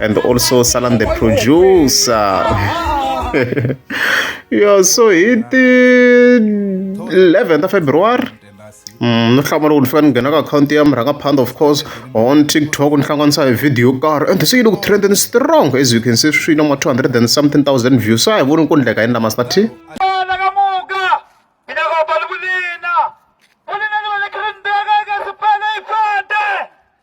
and also Salam the producer. yeah, so it the 11th of February. Mm, no hlamula ku ni fika ni nghena ka akhawunti ya murhangaphandha of course on tiktok ni hlanganisa hi video yo karhi and se yi le ku trendeni strong as you can see swi na ma 200 and something thousand views a hi voni ku ndleka yini lama sati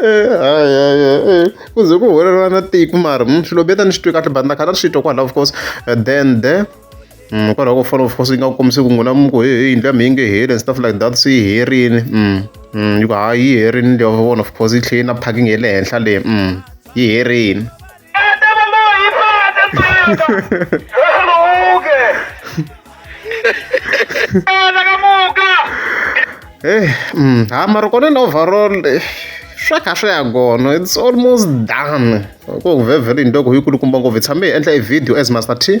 hayi hayi hayi ku ze ku huwelela na tiko mara mm, swilo beta ni swi twi kahle but na khana swi twa kwalaho of course eh, then the mm, kwalaho ko fana of course yi nga kombisi ku n'wina muku he he yindlu ya mi yi nge heli and stuff like that se yi herini mm, yi ku hayi yi herini leyo vona of course yi tlhela yi na parking ya le henhla leyi yi herini Eh, mm, ha mara kona na overall eh, swa kha swi ya kona it's almost done ku ngi vhevhele into ku yi kulukumba ngopfu hi tshame hi endla e video as master t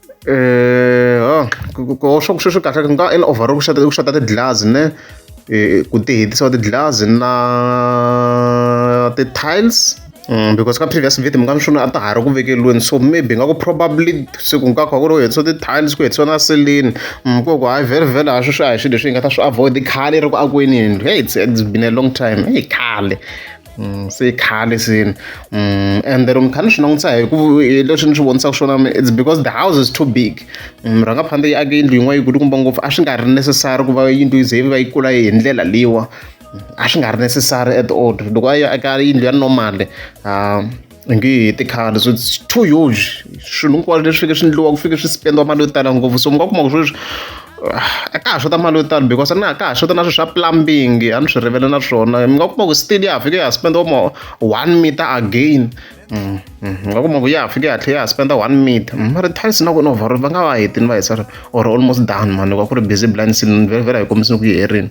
um swa ku sweswi kahle ku nga endla overall ku xata ku xata ti-glass ne um ku ti hetisa ti-glass na ti-tiles Mm, because ka previous video mi nga mi swona a ta ha ri ku vekeliweni so maybe nga ku probably se ku nga kha ku ri u hetisa ti-tiles ku hetisa na seleni mm, ku ku hayi vhele vhele ha swi swi a hi swilo leswi hi nga ta swi avoid khale ri ku akweni yindlu hey it's, it's been a long time hey khale se i khale se ende loko ni kha ni swi langutisa hi ku hi leswi ni swi vonisaka swona it's because the house is too big rhanga phanda yi ake yindlu yin'wana yi kulukumba ngopfu a swi nga ri necessary ku va yindlu yi ze yi va yi kula hi ndlela leyiwa a swi nga ri necessary at all loko a yi aka yindlu ya normal . nge hi tikhale so its too huge swilo hinkwaswo leswi fike swi endliwa ku fike swi spendiwa mali yo tala ngopfu so mi nga kuma ku sweswi ah, a ka ha xota mali yo tala because na ka ha xota na swilo swa plumbing a ni swi rivele na swona mi nga kuma ku still ya ha fike ya spendiwa ma one meter again mm, mm, mi nga kuma ku ya ha fike ya tlhela ya ha spenda one meter mm, mara tiles na kona over va nga va hetini va hisa or almost done mani va ku ri busy blind sin vhela hi kombisini ku yi herini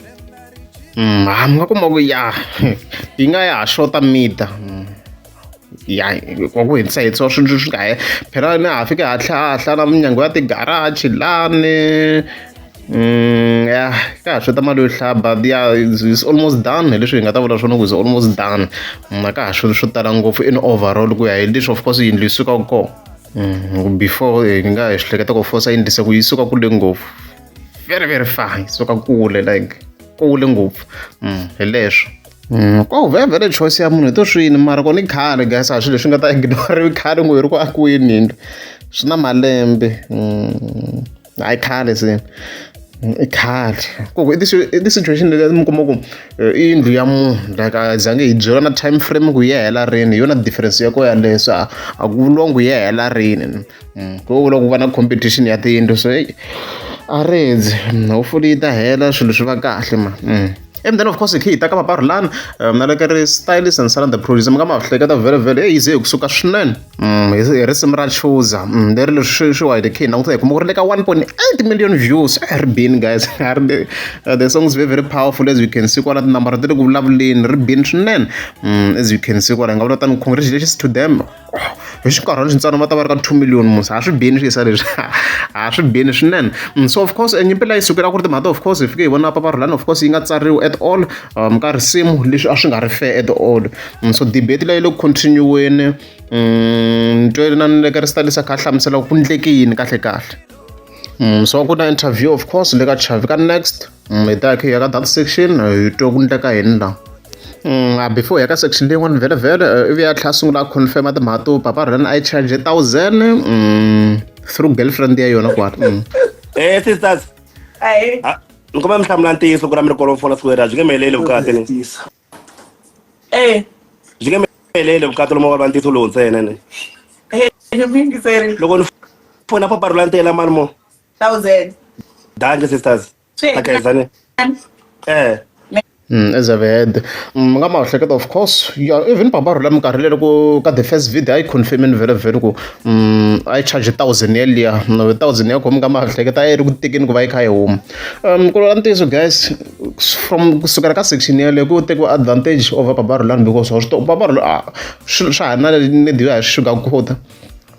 mi nga kuma ku ya yi nga ya ha xota mida ya wa ku hindzisa hindzisa swilo swi nga he phela ni ha fika hatlha hatlha na minyango ya tigaraji lani ya ka ha xota mali yo hlaya but ya is almost done hi leswi hi nga ta vula swona ku is almost done na ka ha swilo swo tala ngopfu in overall ku ya hi leswi of course yindlu yi sukaka kona before hi nga hi swi hleketa ku fosa yindlisa ku yi suka kule ngopfu very very far hi suka kule like kule ngopfu mm, hi leswo Mm, ko oh, vhele choice ya munhu hi to swini mara ko ni khale guys a swilo leswi nga ta ignoriwi khale ngo hi ri ku akiweni yindlu swi na malembe mm, hayi khale se mm, i khale koko i ti-situation leyi mi kuma ku eh, i yindlu ya munhu like a zange hi byeriwa na time frame ku yi hela rini hi yona difference ya ko yaleyo so a ku vuriwangi yi hela rini ku vula ku va na competition ya tiyindlu so heyi a rindzi hopefully yi ta hela swilo swi va kahle ma and then of course khi hi ta ka vaparhulani um, na le ka ri stylist and salanda producer mi nga ma hleketa vele vele eyi ze hi kusuka swinene mm, hi risimu ra chuza mm, leri leswi swi wa hi khe hi languta hi kuma ku ri le ka 1.8 million views a eh, ri bini guys uh, the song is very very powerful as you can see kwala tinambara ti ri ku vulavuleni ri bini swinene mm, as you can see kwala hi nga vula tani khongregations to them hi xinkarhana xintsana va ta va ri ka two million musa a swi bini swi yisa leswi a swi bini swinene mm, so of course nyimpi la yi sukela ku ri timhaka of course hi fike hi vona papa rhulani of course yi nga tsariwi at all um, ka risimu leswi a swi nga ri fair at all mm, so debate leyi le ku continue-weni mm, ntwele na ni leka ri sitalisa kha hlamusela ku ndleke yini kahle kahle so ku na interview of course le ka chavi ka next hi ta khe ya ka data section hi twa ku ndleka yini la a before ya ka section leyin'wana vhele vhele ivi ya tlhela sungula a confirma timhaka to papa ran i charge thousand through girlfriend ya yona kwala eh sisters ni kombela mi hlamula ntiyiso ku ra mi ri kolofona siku leri a byi nge mi heleli vukati ni eh byi nge mi heleli vukati lomu va ntiyiso lowu ntsena ni loko ni fona paparula ntela mani mo thousand danke sisters Sure. tagayizane eh Mm, as I've heard Mm, nga mahleketa of course yeah, even baba rhula minkarhi leyi loko ka the first video a yi confirmini vele vele ku mm, a yi charge thousand yeliya no, thousand ya khomi ka mahleketa a yi ri ku tekeni ku va yi kha yi huma um ku lola ntiyiso guys from kusukela ka section yeleyo ku tekiwa advantage over baba rhulani because wa swi to baba rhula ah, swi- swa ha na ni diyo ya swi sugar quota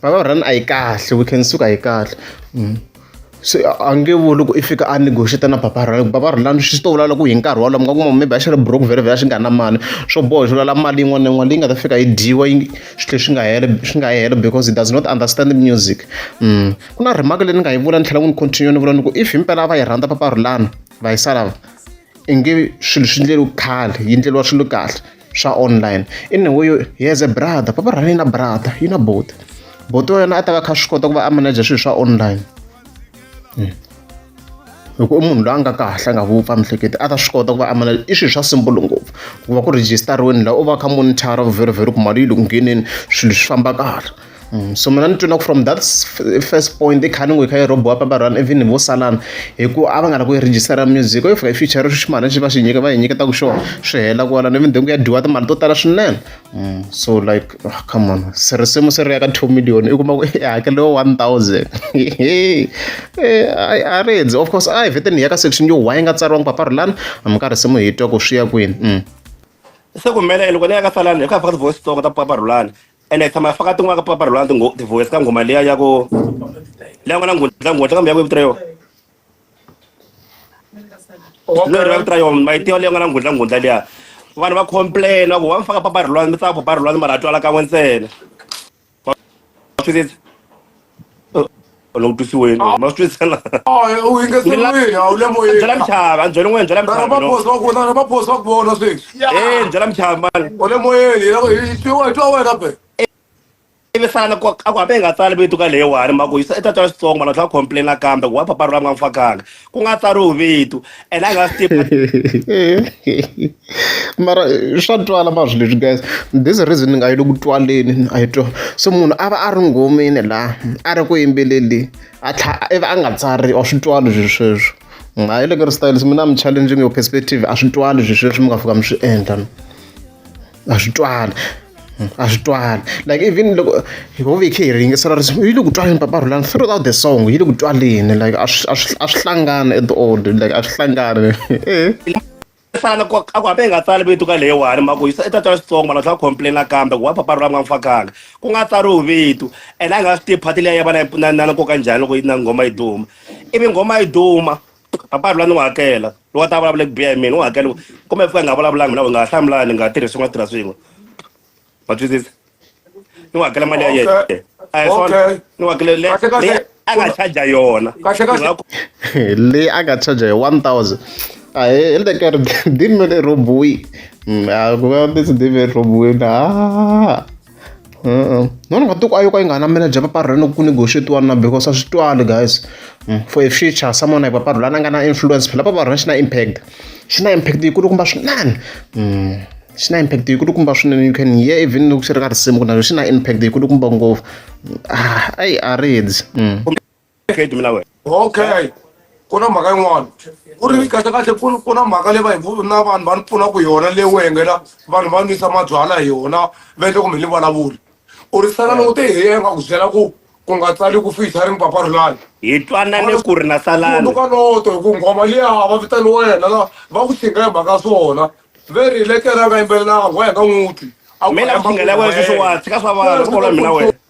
Baba run a yi kahle we can suka a yi kahle mm. se a nge vo loko i fika a negotiate na baba run baba run lani swi swi to vula loko hi nkarhi wolowo mi nga kuma maybe a xi ri broke vhele vhele a xi nga na mali swo boha xi vulala mali yin'wana na yin'wana leyi nga ta fika yi dyiwa yi swi tlhe swi nga hele swi nga hela because he does not understand the music mm. ku na remark leyi ni nga yi vula ni tlhela ku ni continue ni vula ni ku if himpela a va yi rhandza papa rulana va yi salava i nge swilo swi endleriwa khale yi endleriwa swilo kahle swa online in a way he has a brother papa ra yena brother yi na bote bote wa yena a ta va kha swi kota ku va a manager swilo swa online hmm. loko i munhu loyi a nga kahle a nga vupfa mihleketi a ta swi kota ku va a manager i swilo swa simple ngopfu ku va ku rejistariweni laha u va kha monitor very very ku mali yi le ku ngheneni swilo swi famba kahle Mm, so mina ni twina ku from that first point i khani n'wi kha yi robiwa papa run even vo salana hi ku a va nga la ku yi register music if i future ximali xi va xi nyika va yi nyiketa ku xona swi hela ku wala ni vindhengu ya dyiwa timali to tala swinene mm, so like oh, come on se risimu se ri ya ka two million i kuma ku i hakeliwa one thousand eh, a ri endzi of course a hi vhete ni ya ka section yo wa yi nga tsariwangi papa rulani mi ka risimu hi twa ku swi ya kwini mm. se ku mele loko ni ya ka salana hi ku ya faka ti-voice tsongo ta papa rulani ene hi tshama hi faka tin'wana ka papa rhulana tingho tivoyisi ka nghoma liya ya ku leyi nga na nghundla nghundla kambe ya ku vito yona no ri va vito ra yona mayitiwa leyi nga na nghundla nghundla liya vanhu va complain va ku wa mi faka papa rhulana mi tsaka papa rhulana mara a twala kan'we ntsena wa twisisa u langutisi wena ma swi twisela u yingeselwini a wu le moyeni byela muchava a byela n'wina byela muchava va phosa ku vona va phosa ku vona sweswi eh byela muchava mali u le moyeni yena hi twiwa hi twa wena pe ivi sala ku a ku hambe hi nga tsali vito ka leyiwani ma ku yisa i tatana xitsongo mara tlha complain kambe wa papa ra nga mfakanga ku nga tsariwi vito and a nga swi tivi mara swa twala mazwi leswi guys this reason ni nga yi le ku twaleni a yi twa so munhu a va a ri ngomeni laha a ri ku yimbeleli a tlha ivi a nga tsari a swi twali swi sweswo ha yi le ka ri style so mina mi challenging your perspective a swi twali swi sweswo mi nga fika mi swi endla a swi twali a swi twali like even loko hi ho ve hi kha hi ringesela risimu yi le ku twaleni papa rhulani throughout the song yi le ku twaleni like a swi a swi a swi hlangani at all like a swi hlangani fana ku a ku hambi hi nga tsali vito ka leyiwani mhaka yi i ta twa switsongo vanhu va tlhela complaina kambe ku wa papa rhulani va n'wi fakanga ku nga tsariwi vito and a hi nga swi tivi phati leyi ya vana na na na nkoka njhani loko yi na nghoma yi duma ivi nghoma yi duma papa lula ni n'wi hakela loko a ta vulavula ku biha hi mina u hakela kumbe fika nga vulavulanga mina u nga ha hlamulani hi nga ha tirhisi nga tirha swin'we wa twisisa ni n'wi hakela mali ya yena a hi swona ni n'wi hakela leyi a nga charger yona leyi a nga charger hi one thousand a hi le ka ri dimi ri rhobiwi a ku va ndzi dimi ri rhobiwini a None nga tiko a yo ka yi nga namela bya paparhu ra loko ku negotiate-iwa na because a swi twali guys for a future someone like paparhu la na nga na influence phela paparhu xi na impact xi na impact yi kulukumba swinene xi na impact yi kulukumba swinene you can hear even loko xi ri ka risimu ku na xona xi na impact yi kulukumba ngopfu a yi a ri dyi. okay dumela wena okay ku na mhaka yin'wana ku ri kahlekahle ku ku na mhaka leyi va hi na vanhu va ni pfuna ku yona leyi u hengela vanhu va nwisa mabyala hi yona va endle kumbe ni vulavuli u ri sala loko te hi ye nga ku byela ku ku nga tsali ku fihla ri mpapa rilani hi twanane ku ri na salani ka loto hi ku nghoma liya va vitani wena la va ku xinga hi mhaka swona ve ri letera nga yimbelelanga wa hi nga n'wuti a mina ku xingela wena sweswiwani tshika swa vanhu swi kola mina wena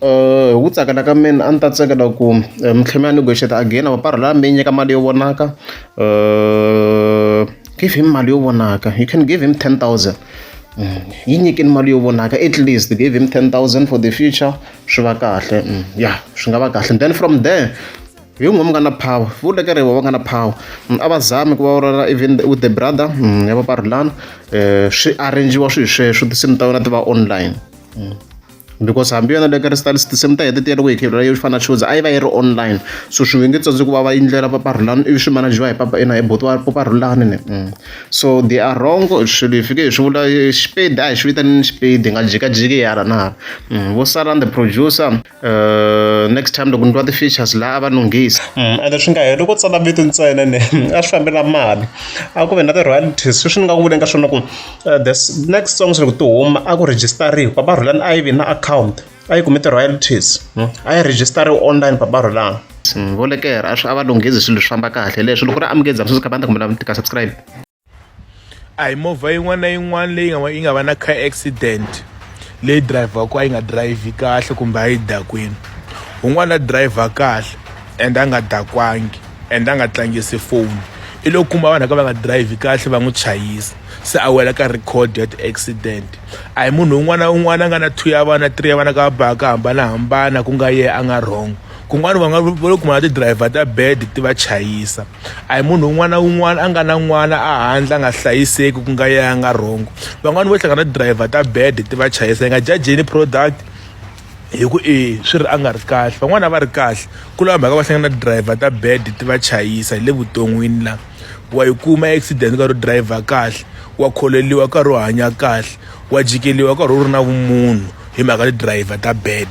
hi ku tsakela ka mina a ni ta tsakela ku mi tlhe mi ya negotiate again or va rhela mi yi nyika mali yo vonaka give him mali yo vonaka you can give him ten thousand yi nyikeni mali yo vonaka at least give him ten thousand for the future swi va kahle ya swi nga va kahle then from there hi n'we mi nga na power vula ka rivo va nga na power a va zami ku va vurhela even with the brother ya va va rhulana swi arrange-iwa swilo sweswo tinsimu ta vona ti va online. because hambi yona le ka restalis tinsimu ta hete ti ya loko hi khevula yo fana shows a yi va yi ri online so swi nge tsandzi ku va va yindlela papa rhulani ivi swi manajiwa hi papa ina hi boti wa papa rhulani ni mm. so they are wrong swilo hi fike hi swi vula xipedi a hi swi vitanini xipedi hi nga jikajiki hi hala na hala mm. vo saran the producer uh, next time loko ni twa ti-features laha a va nunghisa mm, ende swi nga heli ku tsala vito ntsena ni a swi fambela mali a ku ve na ti-royalties sweswi ni nga ku vuleni ka swona ku uh, the next song swi ri ku ti huma a ku rejistariwa papa rhulani a yi vi na account a yi kumi ti-royalties hmm? a yi rejistariwa online papa rhulani hmm, vo lekera a swi a va lunghezi swilo swi famba kahle leswi loko ri amukezi a swi ka banda kumbe lava tika subscribe a hi movha yin'wana na yin'wana leyi nga yi nga va na car accident leyi driver ku a yi nga drive kahle kumbe a yi dakwini un'wana driver kahle and a nga dakwangi and a nga tlangisi foni i lo kuma vanhu ka va nga drive kahle va n'wi chayisa se a wela ka record ya ti-accident a hi munhu un'wana na un'wana a nga na two ya vana three ya vana ka baka ka hambanahambana ku nga ye a nga wrong kun'wana va nga va lo kuma na ti-driver ta bed ti va chayisa a hi munhu un'wana na un'wana a nga na n'wana a handle a nga hlayiseki ku nga ye a nga wrong van'wani vo hlangana na ti-driver ta bed ti va chayisa yi nga jajeni product hi ku i swi ri a nga ri kahle van'wana a va ri kahle ku lava mhaka va hlangana na driver ta bad ti va chayisa hi le vuton'wini la wa yi kuma accident ka ro driver kahle wa kholeliwa ka ro hanya kahle wa jikeliwa ka ro ri na vumunhu hi mhaka ti driver ta bad